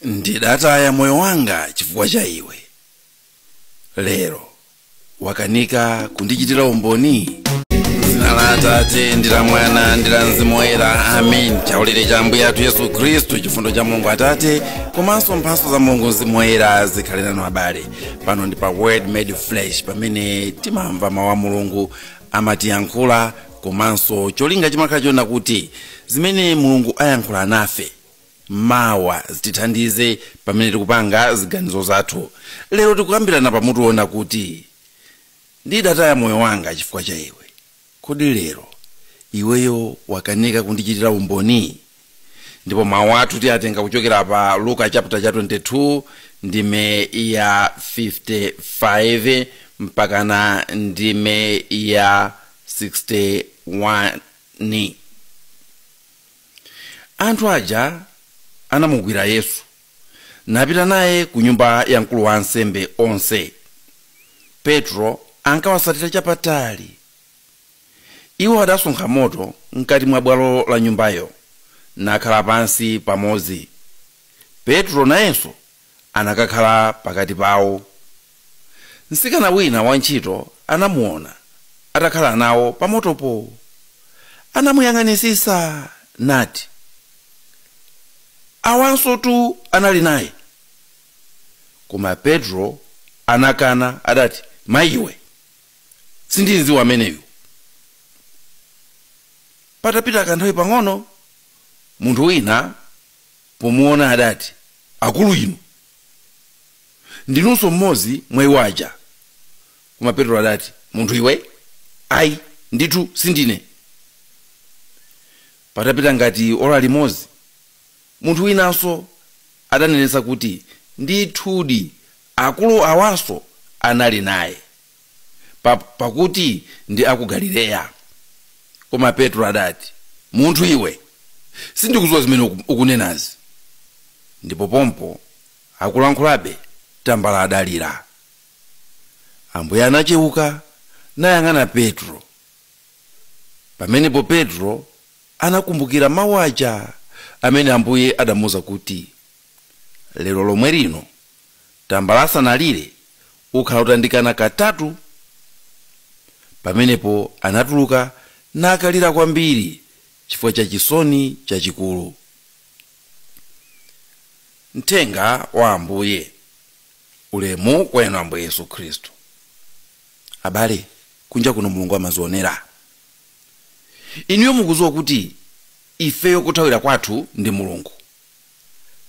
ndidataya moyo wanga chifukwa cha iwe lero wakanika kundichitira umboni dzina la atate ndi la mwana ndi la mzimu woyera amen chaulere cha ambuye athu yesu khristu chifundo cha mulungu atate komanso mphatso za mulungu mzimu woyera zikhale nanu abale pano ndi pa word made flesh pamene timamva mawu a mulungu amatiyankhula komanso cholinga chimakhala chonena kuti zimene mulungu ayankhula nafe mawa zitithandize pamene tikupanga ziganizo zathu lero tikukambirana pamutu wonena kuti ndidataya moyo wanga chifukwa cha iwe kodi lero iweyo wakanika kundichitira umboni ndipo mawu athu tiyatenga kuchokera pa luka chapter cha 22 ndime ya 55 mpakana ndime ya 61 Anthu aja anamugwira Yesu napita naye ku nyumba ya mkulu wa ansembe onse. Petro ankawasatira chapatali. Iwo adasonkha moto mkati mwa bwalo la nyumbayo, nakhala pansi pamodzi. Petro nayenso anakakhala pakati pawo. Mtsikana wina wantchito anamuona atakhala nawo pamotopo. Anamuyang'anitsitsa nati, Awansotu anali naye. Koma Petro anakana, adati, Mayi iwe, sindimdziwa ameneyu. Patapita kanthawi pang'ono, munthu wina pomuona adati, Akulu inu, ndinunso mmodzi mwa iwo aja. Koma Petro adati, Munthu iwe, ai, ndithu sindine. Patapita ngati ora limodzi, munthu winanso adanenetsa kuti, Ndithudi, akulu awanso anali naye. pakuti ndi aku galileya koma petro adati munthu iwe sindikudziwa zimene ukunenazi ndipo pompo akulankhulabe tambala adalira ambuye anacheuka nayang'ana petro pamenepo petro anakumbukira mawu aja amene ambuye adamuuza kuti lero lomwe lino tambala asanalire ukhala utandikana katatu. Pamenepo anatuluka nakalira kwambiri chifukwa cha chisoni chachikulu. Mthenga wa Ambuye Ulemu kwa inu Ambuye Yesu Khristu. Abale, kunja kuno Mulungu amazionera. Inuyo mukudziwa kuti ifeyo kothawira kwathu ndi Mulungu.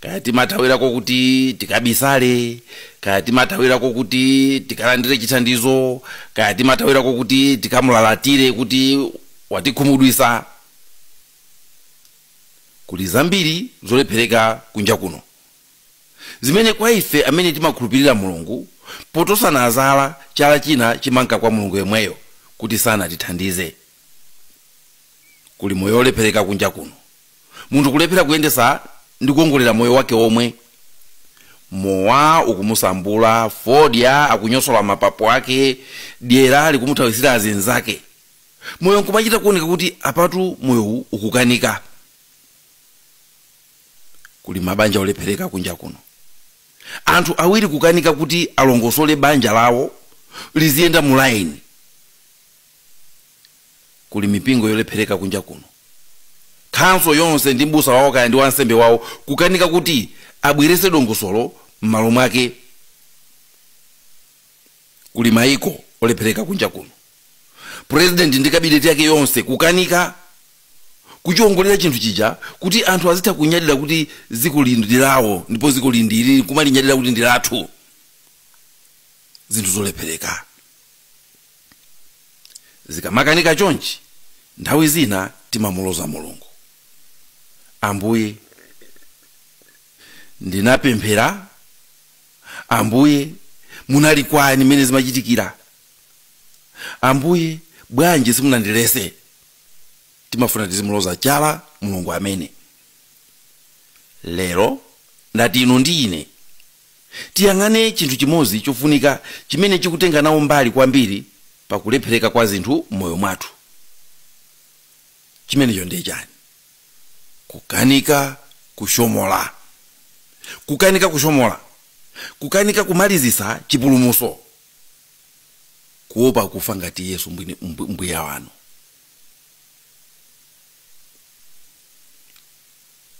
kaya timathawirako kuti tikabisale kaya timathawirako kuti tikalandire chithandizo kaya timathawirako kuti tikamulalatire kuti watikhumudwisa kuli zambiri zolephereka kunja kuno zimene kwa ife amene timakhulupirira mulungu potosana zala chala china chimanka kwa mulungu yemweyo kuti sanatithandize kuli moyo olephereka kunja kuno munthu kulephera kuyendesa ndi kuongolera moyo wake omwe mowa ukumusambula fodya akunyosola mapapo ake dyera likumuthawisira azinzake moyo nkumachita kuoneka kuti apatu moyowu ukukanika kuli mabanja olephereka kunja kuno anthu awiri kukanika kuti alongosole banja lawo liziyenda mu laini kuli mipingo yolephereka kunja kuno khanso yonse ndi mbusa wawo kaya ndi wansembe wawo kukanika kuti abweretse dongosolo m'malo mwake kuli maiko olephereka kunja kuno purezidenti ndi kabineti yake yonse kukanika kuchiongolera chinthu chija kuti anthu azitha kunyadira kuti dzikoli ndi lawo ndipo dzikoli ndi ili kumalinyadira kuti ndi lathu zinthu zolephereka zikamakanika chonchi nthawi zina timamuloza mulungu ambuye ndinapemphera ambuye munali kwani mmene zimachitikira ambuye bwanji simunandilese timafuna tizimuloza chala mulungu amene lero ndati inu ndi ine tiyang'ane chinthu chimodzi chofunika chimene chikutenga nawo mbali kwambiri pa kulephereka kwa zinthu m'moyo mwathu. Chimenecho ndi chani? Kukanika kushomola. Kukanika kushomola. Kukanika kumalizitsa chipulumutso. Kuopa kufa ngati Yesu mbuye wanu.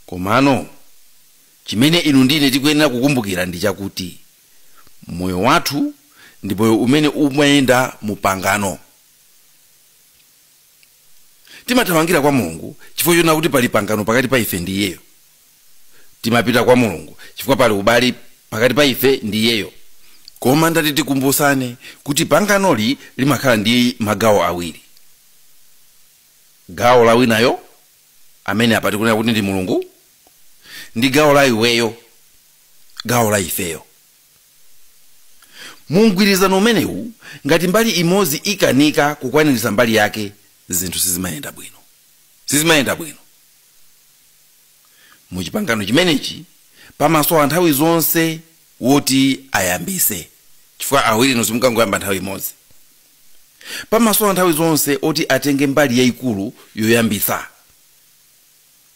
Komano, chimene inu ndi ine tikuyenera kukumbukira ndi chakuti moyo wathu ndi moyo umene umayenda mu pangano. Timathamangira kwa Mulungu chifukwa choona kuti pali pangano pakati pa ife ndi Iyeyo. Timapita kwa Mulungu chifukwa pali ubale pakati pa ife ndi Iyeyo. Koma ndati tikumbutsane kuti panganoli limakhala ndi magawo awiri. Gawo amene apa tikunena kuti ndi mulungu ndi gawo la iweyo gawo la ifeyo mu mgwirizano umenewu ngati mbali imodzi ikanika kukwaniritsa mbali yake zinthu sizimayenda bwino sizimayenda bwino mu chipangano chimenechi pamasowa nthawi zonse woti ayambise chifukwa awiri nonse mukangoyamba nthawi imodzi Pamasowa nthawi zonse oti atenge mbali yaikulu yoyambitsa.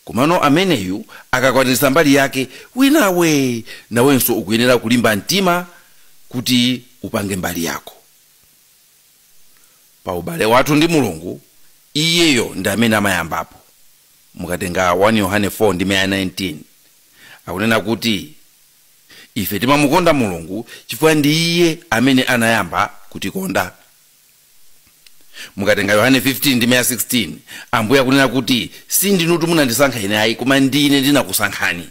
Komano ameneyu akakwaniritsa mbali yake, winawe nawenso ukuyenera kulimba mtima kuti upange mbali yako. Pa ubale wathu ndi Mulungu, iyeyo ndi amene amayambapo. Mukatenga 1 Yohane 4 ndime ya 19, akunena kuti. ife timamukonda mulungu chifukwa ndi iye amene anayamba kutikonda mukatenga yohane 15 ndime ya 16 ambuye akunena kuti sindinutu munandisankha ine ayi koma ndi ine ndinakusankhani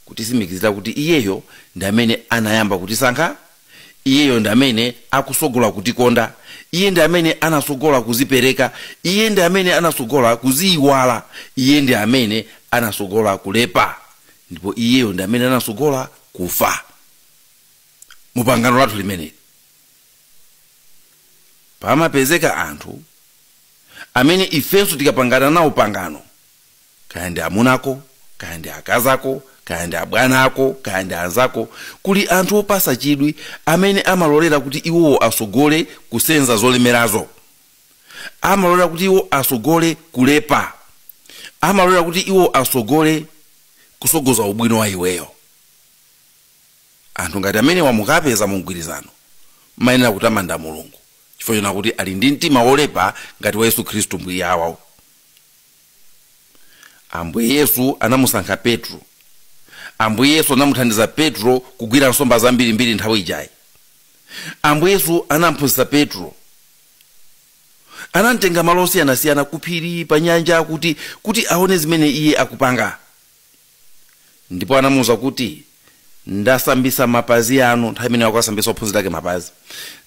kutisimikizira kuti iyeyo ndi amene anayamba kutisankha iyeyo ndi amene akusogola kutikonda iye ndi amene anasogola kuzipereka iye ndi amene anasogola kuziyiwala iye ndi amene anasogola kulepa ndipo iyeyo ndi amene anasogola kufa mu pangano lathu limeneli pamapezeka anthu amene ifenso tikapangana nawo pangano kaya ndi amuna ako kaya ndi akazi ako kaya ndi abwana ako kaya ndi anzako kuli anthu opasa chidwi amene amalolera kuti iwowo asogole kusenza zolemerazo amalolera kuti iwo asogole kulepa amalolera kuti iwo asogole kusogoza ubwino wa iweyo anthu ngati amenewa mukapeza mu mgwirizano mayenera kutamanda mulungu chifukwa chonena kuti ali ndi mtima wolepa ngati wa yesu khristu mbuye wawo Ambuye Yesu anamusankha Petro. Ambuye Yesu anamuthandiza Petro kugwira nsomba zambirimbiri nthawi ijayi. Ambuye Yesu anamphunzitsa Petro. Anamtenga malo osiyanasiyana kuphiri, pa nyanja kuti kuti aone zimene iye akupanga. ndipo anamuuza kuti ndasambisa mapazi anu nthawi imene ankasambisa ophunzira ake mapazi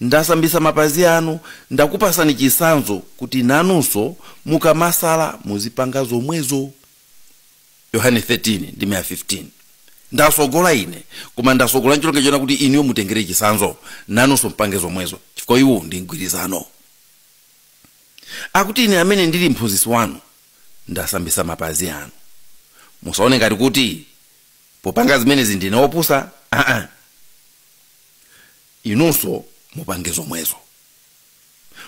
ndasambisa mapazi anu ndakupasani chisanzo kuti nanunso mukamasala muzipanga zomwezo yohane 13 ndime ya 15 ndasogola ine koma ndasogola ncholinga chonena kuti inuyo mutengere chisanzo nanunso mpange zomwezo chifukwa uwu ndi mgwirizano akuti ine amene ndili mphunzitsi wanu ndasambisa mapazi anu musaone ngati kuti popanga zimenezi ndine opusa aa inunso mupange zomwezo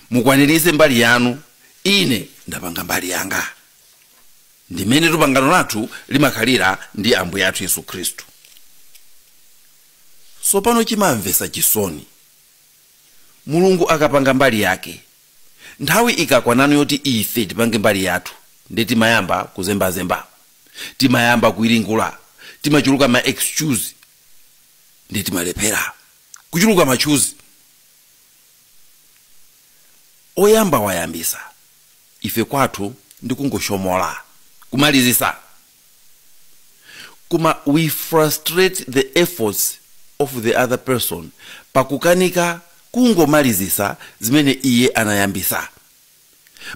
mukwaniritse mbali yanu ine ndapanga mbali yanga ndimmene pangano lathu limakhalira ndi ambuye athu yesu khristu sopano chimamvesa chisoni mulungu akapanga mbali yake Nthawi ikakwanano yoti ife tipange mbali yathu nde timayamba kuzembazemba, timayamba kuwiringula, timachuluka ma excuse nde timalephera. Kuchuluka ma tchuzi. Oyamba wayambisa, ife kwathu ndi kungoshomola, kumalizisa. koma we frustrate the efforts of the other person pakukanika kungomalizisa zimene iye anayambisa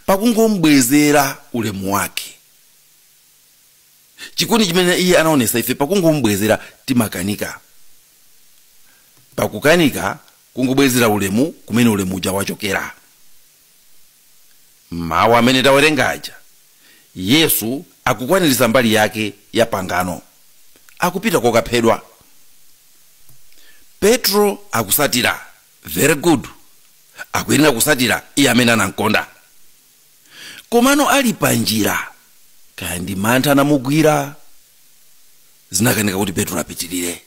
pakungombwezera ulemu wake chikondi chimene iye anaonesa ife pakungombwezera timakanika pakukanika kungobwezera ulemu kumene ulemu uja wachokera Mawu amene tawerenga aja, Yesu akukwaniritsa mbali yake ya pangano. Akupita kokaphedwa. Petro akutsatira. Very good. Akuyenera kutsatira Iye amene anamkonda. Komano ali panjira, kaya ndi mantha anamugwira, zinakanika kuti Petro apitirire.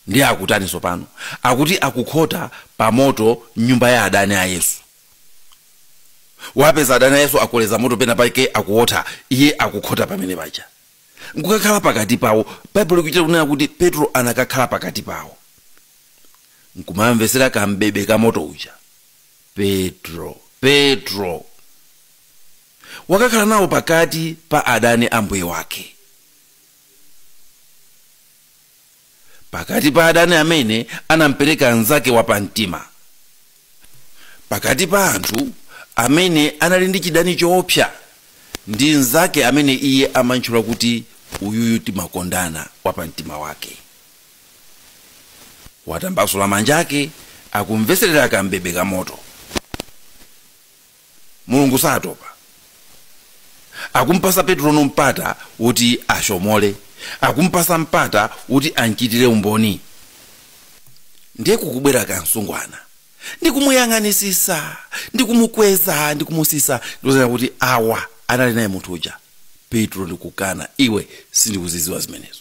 Ndiye akutani tsopano? Akuti akukhota pa moto m'nyumba ya adani a Yesu. Wapeza adani a Yesu akoleza moto pena pake akuwotha, iye akukhota pamene paja nkukakhala pakati pawo. Baibulo likuchita kunena kuti Petro anakakhala pakati pawo nkumamvetsera kam'bebe ka moto uja. Petro, Petro wakakhala nawo pakati pa adani a Mbuye wake. pakati pa adani amene anampereka mnzake wapamtima pakati pa anthu amene anali ndi chidani choopsa ndi mnzake amene iye amantchula kuti uyuyu timakondana wapamtima wake watambasula manja ake akumvetserera kambebe ka moto Mulungu satopa. Akumupasa Petrono mpata woti ashomole. Akumupasa mpata woti anchitire umboni. Ndiye kukubwera ka msungwana ndi kumuyang'anisisa ndi kumukweza ndi kumusisa ndikuzanena kuti awa anali naye munthu uja Petro ndikukana iwe sindikuziziwa zimenezo.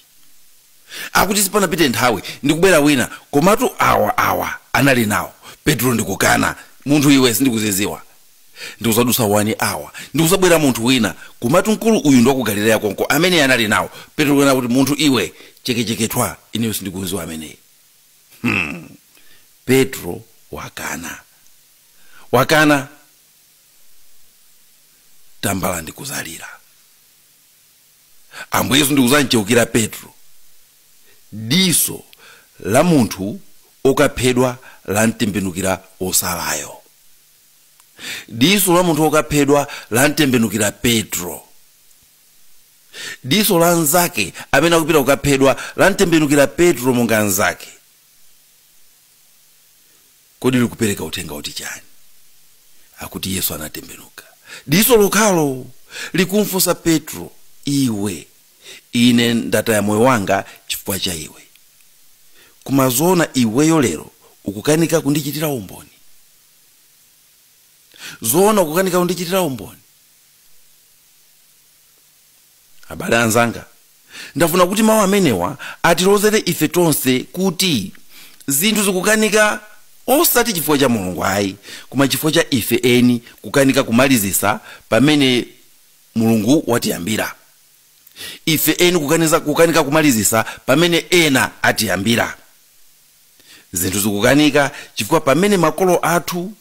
Akuti sipanapite nthawi ndi kubwera wina, komatu awa, awa anali nawo. Petro, ndikukana! Munthu iwe, sindikuzidziwa. Ndi kudzadutsa wani awala, ndi kudzabwera munthu wina, komatu mkulu uyu ndi waku Galileya konko, ameneyi anali nawo. Petro kunena kuti, Munthu iwe, cheke, cheke, thwa, ineyo sindikumdziwa ameneyi. Hmm! Petro wakana. Wakana! Tambala ndi kudzalira. ambuye yesu ndikudzamcheukira petro diso la munthu okaphedwa lamtembenukira osalayo diso la munthu okaphedwa lamtembenukira petro diso la mnzake amene akupita kukaphedwa lamtembenukira petro monga mnzake Kodi likupereka uthenga woti chani? Akuti Yesu anatembenuka diso lokhalo! Likumfunsa Petro, Iwe, ine ndataya moyo wanga chifukwa cha iwe. Koma zoona iweyo lero ukukanika kundichitira umboni? Zoona ukukanika kundichitira umboni? Abale anzanga, ndafuna kuti mawu amenewa atilozere ife tonse kuti zinthu zikukanika osati chifukwa cha Mulungu ayi, koma chifukwa cha ife eni kukanika kumalizitsa pamene Mulungu watiyambira. Ife eni kukaniza, kukanika kumalizitsa pamene ena atiyambira. zinthu zikukanika chifukwa pamene makolo athu,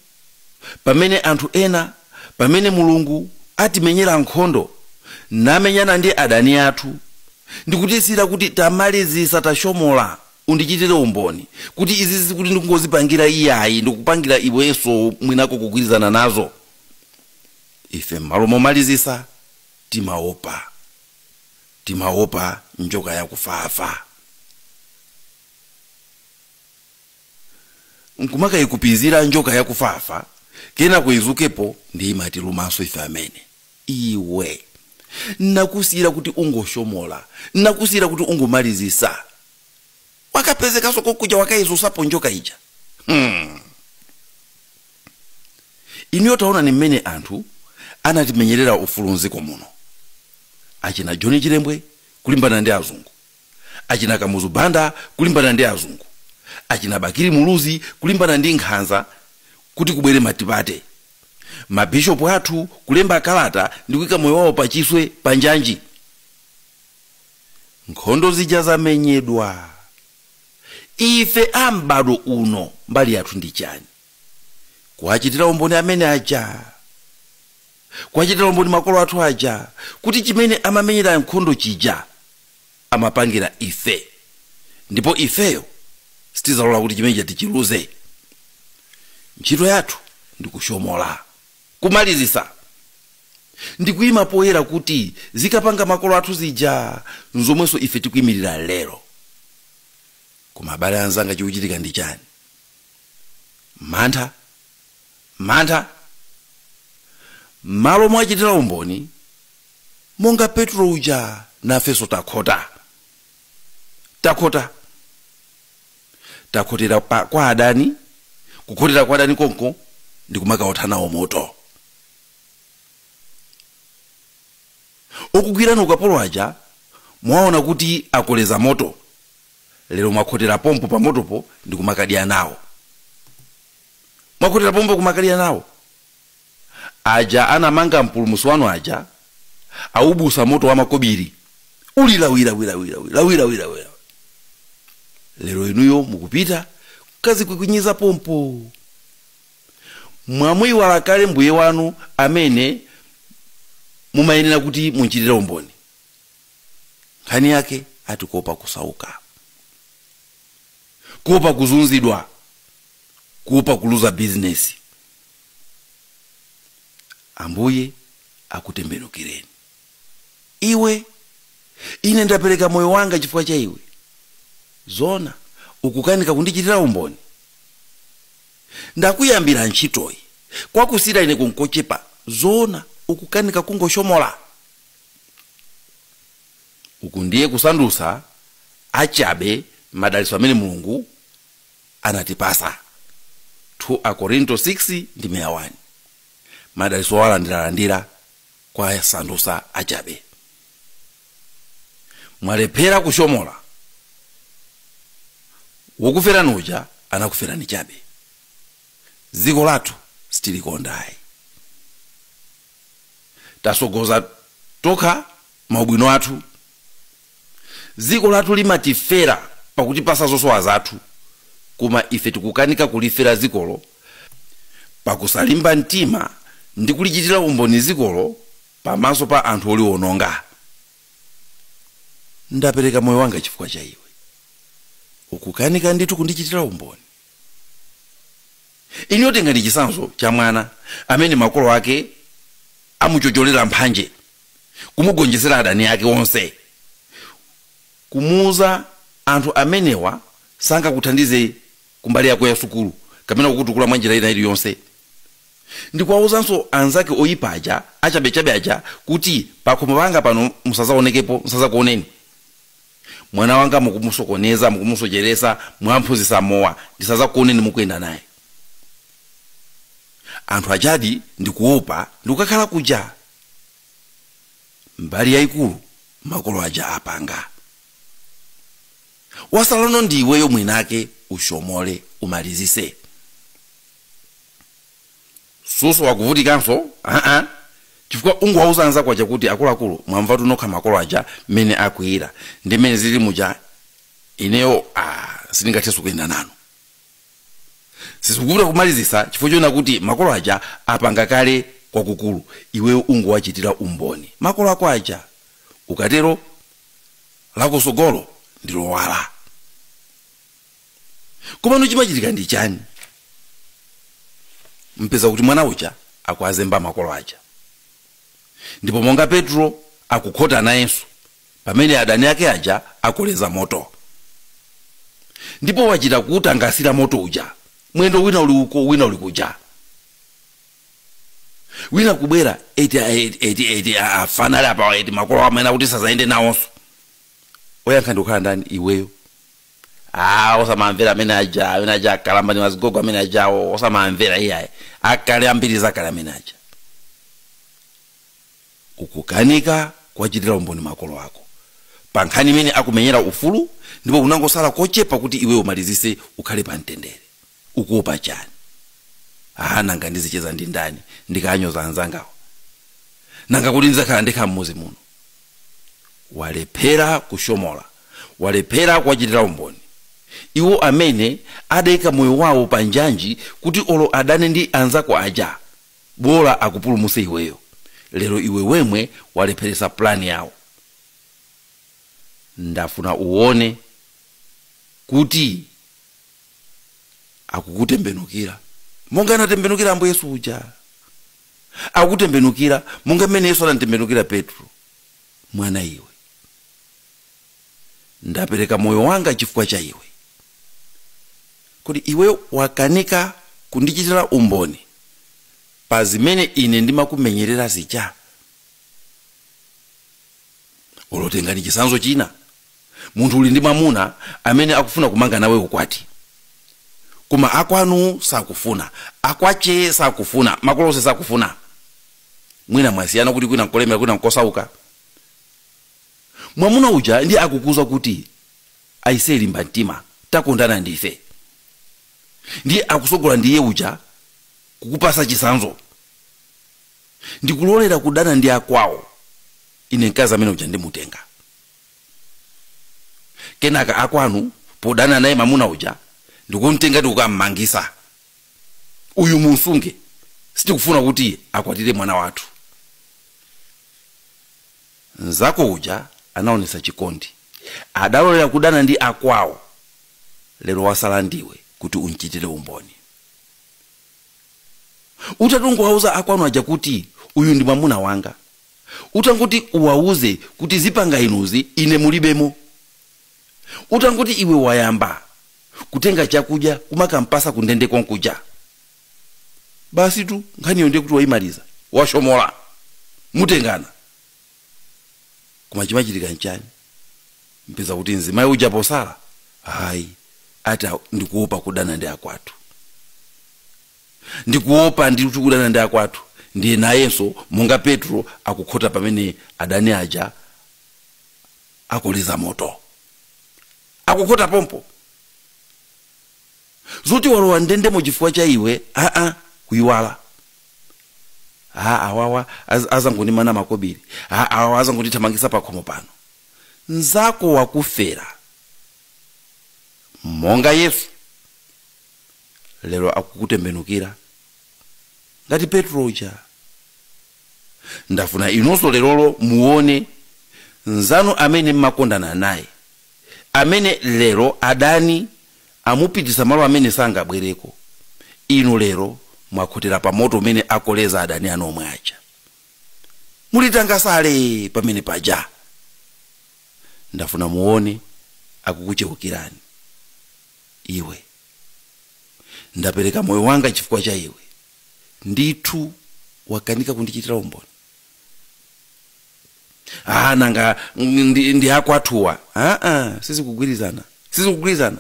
pamene anthu ena, pamene Mulungu atimenyera nkhondo, namenyana ndi adani athu, ndikutisiyira kuti tamalizisa tashomola undichitire umboni kuti izizi sikuti ndikungozipangira iyayi ndikupangira iwenso mwinako kugwirizana nazo, ife mmalo momalizisa timaopa, timaopa njoka yakufafa. nkumakayikupizira njoka yakufafa kenako idzukepo ndi kumatilumanso ife amene iwe nakusiyira kuti ungoshomola nakusiyira kuti ungomalizisa wakapezekanso kokuja wakayidzutsapo njoka ija hmm. inuyo taonani mmene anthu anatimenyerera ufulu mdziko muno achina john chilembwe kulimbana ndi azungu achina kamuzu banda kulimbana ndi azungu achina bakili muluzi kulimbana ndi nkhanza kuti kubwere matipate mabishopu athu kulemba kalata ndi kuika moyo wawo pachiswe panjanji nkhondo zija zamenyedwa ife a m'bado uno mbali yathu ndi chani kuwachitira umboni amene aja kuwachitira umboni makolo athu aja kuti chimene amamenyera nkhondo chija amapangira ife ndipo ifeyo sitizalola kuti chimene chija tichiluze ntchito yathu ndikushomola kumalizisa ndikuyima poyera kuti zikapanga makolo athu zija nzomwenso ife tikuyimirira lero koma abale anzanga chikuchitika ndi chani mantha mantha. M'malo mowachitira umboni, monga Petro uja, nafenso takhota. Takhota. Takhotera pa, kwa adani, kukhotera kwa adani konko ndi kumakaotha nawo moto. Okugwirani ukapolo aja mwaona kuti akoleza moto, lero mwakhotera pompo pamotopo ndi kumakadya nawo. mwakhotera pompo kumakadya nawo aja anamanga mpulumusi wanu aja aubusa moto wa makobiri uli lawilawilawilawi lero inuyo mukupita kukazikukunyiza pompo mwamuyiwala kale mbuye wanu amene mumayenera kuti munchitire umboni nkhani yake ati kuopa kusauka kuopa kuzunzidwa kuopa kuluza bizinesi ambuye akutembenukireni iwe ine ndapereka moyo wanga chifukwa cha iwe zona ukukanika kundichitira umboni ndakuyambira ntchitoyi kwakusiyira ineku nkochepa zona ukukanika kungoshomola uku ndiye kusandusa achabe madalitso amene mulungu anatipasa 2 akorinto 6 ndime ya 1 madalitso owalandiralandira kuwasandusa achabe mwalephera kushomola wokuferani uja anakuferani chabe dziko lathu sitilikondayi tasogoza tokha maubwino athu dziko lathu limatifera pakutipasa zosowa zathu koma ife tikukanika kulifera dzikolo pakusalimba mtima ndi kulichitira umboni dzikolo pamaso pa anthu oliwononga ndapereka moyo wanga chifukwa cha iwe ukukanika ndithu kundichitira umboni Inuyo tengani chitsanzo cha mwana amene makolo ake amuchocholera mphanje, kumugonjetsera adani ake onse. Kumuuza anthu amenewa sangakuthandize kumbali yako ya sukulu kapena kukutukula mwanjira ina iliyonse. Ndikuwauzanso anzake oipa aja, achabechabe aja kuti, Pakhomo panga pano musadzaonekepo, nsadzakuoneni. Mwana wanga mukumusokoneza, mukumusocheresa, mwamphunzitsa mowa, ndisazakuoneni mukuyenda naye anthu ajadi ndikuopa ndikukakhala kuja. Mbali yaikulu makolo aja apanga. Wasalano ndi iweyo mwiniwake ushomole, umalizise. Susowa kuvutikanso aa chifukwa ungowauza anzako aja kuti akuluakulu mwamvatu nokha makolo aja mmene akwiyira ndi mmene zilili muja ineyo aa sindingathenso kuyenda nanu. Sizikuvuta kumalizitsa chifukwa choona kuti makolo aja apanga kale kwakukulu iweyo ungowachitira umboni makolo ako aja ukatero lako tsogolo ndi lowala. komano chimachitika ndi chani mpeza kuti mwana uja akuwazemba makolo aja ndipo monga petro akukaotha nayenso pamene adani ake aja akoleza moto ndipo wachita kuutangasira moto uja mwendo wina uli uko wina uli kuja wina kubwera eti eti afana ali apawa eti makolo amene aja akuti sazayende nawonso oyankha ndikukhala ndani iweyo ah osamamvera amene aja amene aja akalamba ndi azigogo amene aja awo osamamvera iyaye akale ambiri zakale amene aja ukukanika kuwachitira umboni makolo ako pa nkhani imene akumenyera ufulu ndipo kunangosala kochepa kuti iwe umalizise ukhale pa mtendere ukuopa chani aa nanga ndizicheza ndi ndani ndikaanyoza anzangawa nanga kodi ndizakhala ndekha mmuzi muno walephera kushomola walephera kuwachitira umboni iwo amene adaika moyo wawo pa njanji kuti olo adane ndi anzako aja bola akupulumuse iweyo lero iwe wemwe walepheresa plan yawo ndafuna uone kuti akukutembenukira monga anatembenukira ambuye yesu uja akukutembenukira monga mmene yesu anamtembenukira petro mwana iwe ndapereka moyo wanga chifukwa cha iwe kodi iwe wakanika kundichitira umboni pa zimene ine ndimakumenyerera zija olo tengani chisanzo china munthu uli ndi mwamuna amene akufuna kumanga nawe ukwati koma akwanu sakufuna akwache sakufuna makolo onse sakufuna mwina mwasiyana kuti kwina nkolemera kwina nkosauka mwamuna uja ndiye akukuuza kuti aise limba mtima takondana ndife ndiye akusogola ndiye uja kukupasa chisanzo ndikulolera kudana ndi akwawo ine mkazi amene uja ndimutenga kenaka akwanu podana naye mamuna uja ndikumtenga ndikukammangitsa uyu mumsunge sitikufuna kuti akwatire mwana wathu mzako uja anaonesa chikondi adalolera kudana ndi akwawo lero wasala ndiwe kuti umchitire umboni utatongowauza akwanu aja kuti uyu ndi mwamuna wanga utangoti uwauze kuti zipanga inuzi ine mulibemo utangoti iwe wayamba kutenga chakudya kumakampasa kundende konkuja basi tu nkhaniyo ndiye kuti waimaliza washomola mutengana koma chimachitika nchani mpeza kuti mzimayi uja posala aayi ati aa ndikuopa kudana ndi akwathu ndikuopa ndithu kudana ndi akwathu ndiye nayenso monga petro akukhota pamene adani aja akoleza moto akukhota pompo zoti walowa m'ndendemo chifukwa cha iwe aa kuyiwala aa awawa az- azangondimana makobiri aa awawa azangondithamangisa pakhomo pano nzako wakufera monga yesu lero akukutembenukira ngati petro uja ndafuna inunso lerolo muone nzanu amene mmakondana naye amene lero adani amupititsa malo amene sangabwereko, inu lero mwakhotera pa moto umene akoleza adani anu omwe aja. Muli tangasale pamene paja. Ndafuna muone akukucheukirani. Iwe, ndapereka moyo wanga chifukwa cha iwe. Ndithu wakanika kundichitira umboni. ah nanga ndi, ndi akwathuwa ah, ah, sizikugwirizana sizikugwirizana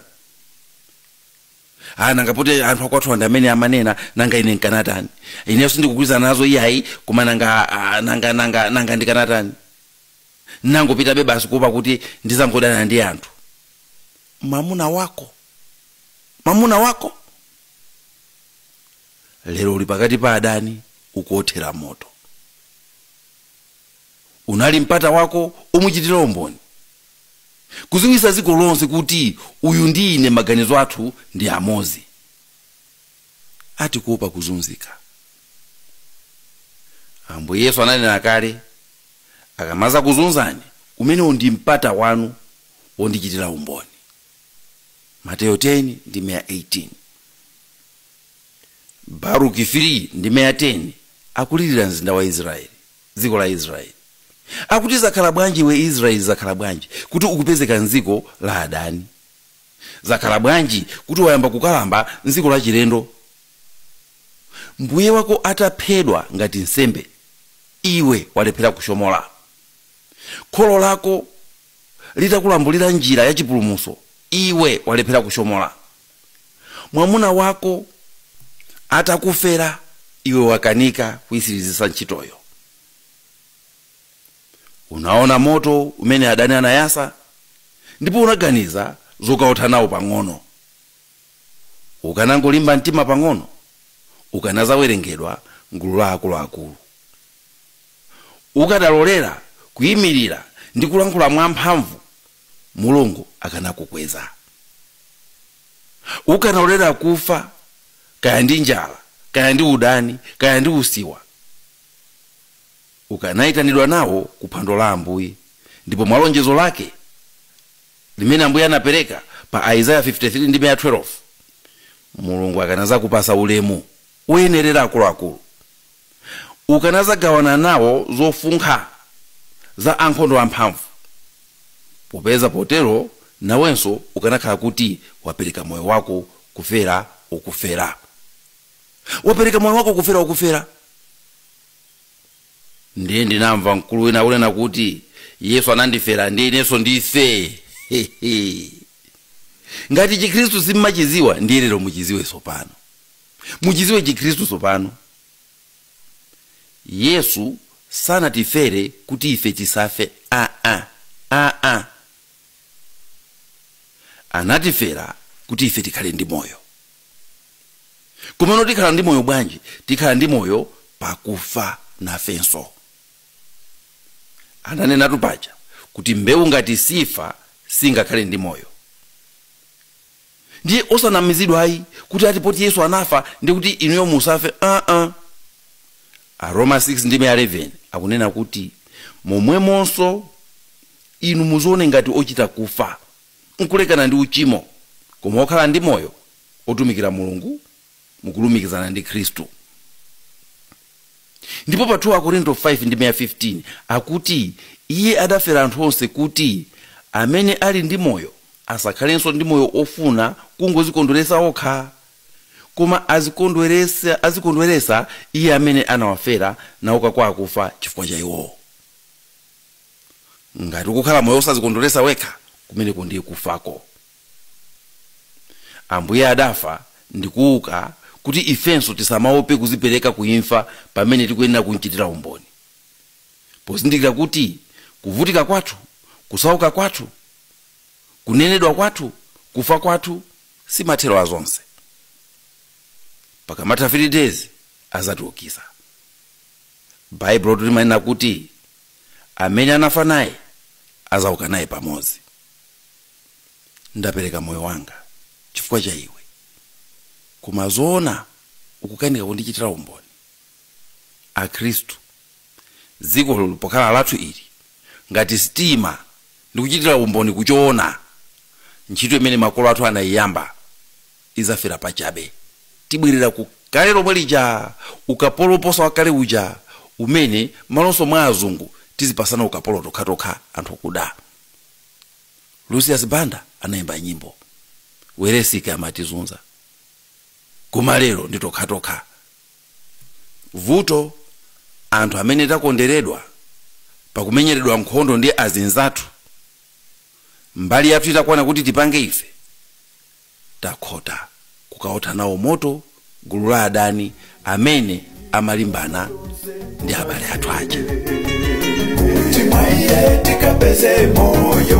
ah nanga poti anthu akwathuwa ndi amene amanena nanga ine nkanatani ineyo sindikugwirizana nazo iyayi koma nanga ah, nanga nanga nanga ndikanatani nangopitabe basi kuopa kuti ndizangodana ndi anthu mamuna wako mamuna wako lero uli pakati pa adani ukuothera moto unali mpata wako omuchitira umboni kuziwisa dziko lonse kuti uyu ndi ine maganizo athu ndi amodzi ati kuopa kuzunzika ambuye yesu ananena kale akamazakuzunzani umene ndi mpata wanu wondichitira umboni mateyo 10 ndime ya 18 baruki 3 ndime ya 10 akulirira mzinda wa israeli dziko la israeli akuti zakhala bwanji iwe israeli zakhala bwanji kuti ukupezeka m'dziko la adani zakhala bwanji kuti wayamba kukalamba m'dziko lachilendo mbuye wako ataphedwa ngati nsembe iwe walephera kushomola kholo lako litakulambulira njira ya chipulumuso iwe walephera kushomola mwamuna wako atakufera iwe wakanika kuisirizisa ntchitoyo unaona moto umene adani anayasa ndipo unaganiza zokaotha nawo pang'ono ukanangolimba mtima pang'ono ukanazawerengedwa m'gulu la akuluakulu ukadalolera kuyimirira ndi kulankhula mwamphamvu mulungu akanakukweza ukanalolera kufa kaya ndi njala kaya ndi udani kaya ndi usiwa ukanayitanidwa nawo ku phwando la ambuye ndipo mwa lonjezo lake limene ambuye anapereka pa aizaya 53 ndime ya 12 mulungu akanazakupasa ulemu woyenerera akuluakulu ukanadzagawana nawo zofunkha za ankhondo amphamvu, popeza potero nawenso ukanakhala kuti wapereka moyo wako kufera wokufera. Wapereka moyo wako kufera okufera? Ndiye ndinamva mkulu wina akunena kuti, Yesu anandifera ndiye inenso ndife! Hehe! Ngati Chikristu simmachiziwa, ndiye lero muchiziwe sopano. muchiziwe chikhristu sopano. Yesu sanatifere kuti ife tisafe aa aa anatifera kuti ife tikhale ndi moyo komano tikhala ndi moyo bwanji tikhala ndi moyo pakufa nafenso ananenatu paja kuti mbewu ngati sifa singakhale ndi moyo Ndiye osanamizidwa ayi kuti ati poti Yesu anafa ndiye kuti inuyo musafe aa. Aroma 6 ndime ya 11 akunena kuti momwemonso inu muzione ngati ochita kufa, nkulekana ndi uchimo, koma okhala ndi moyo, otumikira Mulungu mukulumikizana ndi Khristu. Ndipo pa 2 Akorinto 5 ndime ya 15 akuti iye adafera anthu onse kuti amene ali ndi moyo asakhalenso ndi moyo ofuna kungozikondweresa okha koma azikondweresa iye amene anawafera nauka kwa akufa chifukwa cha iwowo ngati ukukhala moyo osazikondweresa wekha kumeneko ndiye kufako ambuye adafa ndikuuka kuti ifenso tisamaope kuzipereka ku imfa pamene tikuyenera kumchitira umboni pozindikira kuti kuvutika kwathu kusauka kwathu kunenedwa kwathu kufa kwathu si mathero a zonse pakamatha 3 days azatiukisa baibulotu limanena kuti amene anafa naye azauka naye pamodzi ndapereka moyo wanga chifukwa cha iwe koma zoona ukukanika kundichitira umboni akhristu dzikolo pokhala lathu ili, ngati sitiima ndi kuchitira umboni ku choona, ntchito imene makolo athu anaiyamba izafera pachabe. Tibwerera ku kale lomwe lija, ukapolo woposa wakale uja, umene, m'malonso mwa azungu, tizipasana ukapolo tokhatokha anthu okuda. Lucius Banda anaimba nyimbo. Welensky amatizunza. Koma lero ndi tokhatokha. Vuto anthu amene takonderedwa pakumenyeredwa nkhondo ndi azinzathu mbali yathu itakwana kuti tipange ife takhota kukaotha nawo moto gulu la adani amene amalimbana ndi abale athu aja. Timwaye tikapeze moyo